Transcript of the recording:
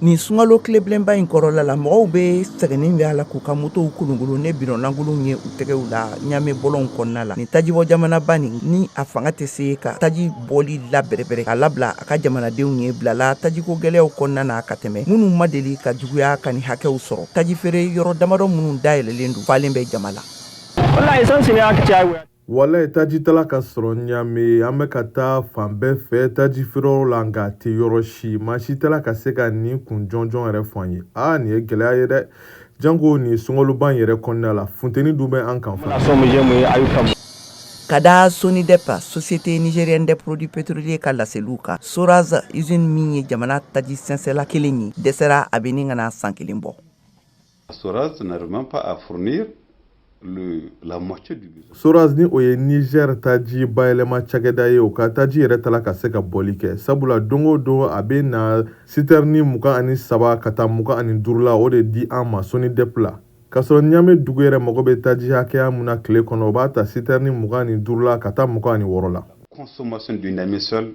Nin sunkalo tilebilenba in kɔrɔla la mɔgɔw bɛ sɛgɛnnen bɛ a la k'u ka motow kolonkolon ni bidɔn lankolon ye u tɛgɛw la ɲamɛ bɔlɔnw kɔnɔna la nin tajibɔ jamanaba nin ni a fanga tɛ se ka taji bɔli la bɛrɛbɛrɛ a labila a ka jamanadenw ye bilala tajiko gɛlɛyaw kɔnɔna na ka tɛmɛ minnu ma deli ka juguya ka nin hakɛw sɔrɔ taji feere yɔrɔ damadɔ minnu dayɛlɛlen don falen bɛ jama la Walayi taji t'a la ka sɔrɔ ɲamɛ an bɛ ka taa fan bɛɛ fɛ taji feereyɔrɔ la nka a tɛ yɔrɔ si maa si t'a la ka se ka nin kun jɔnjɔn yɛrɛ fɔ an ye aa nin ye gɛlɛya ye dɛ janko nin sunkaloba in yɛrɛ kɔnɔna la funteni dun bɛ an kan fana ka da sonidep société nigérienne des produits pétroliers ka laseliw kan soraz usine min ye jamana taji sɛnsɛnla kelen ye dɛsɛra a bɛ ɲini ka na san kelen bɔ Soraz n'arrive même pas à fournir le, la moitié du besoin. Soraz ni o ye Niger taji bayɛlɛma cakɛda ye o ka taji yɛrɛ t'a la ka se ka bɔli kɛ sabula don o don a bɛ na sitɛrini mugan ani saba ka taa mugan ani duuru la o de di an ma sonidep la k'a sɔrɔ ɲamɛ dugu yɛrɛ mago bɛ taji hakɛya mun na tile kɔnɔ o b'a ta sitɛrini mugan ani duuru la ka taa mugan ani wɔɔrɔ la consommation de Niamey seul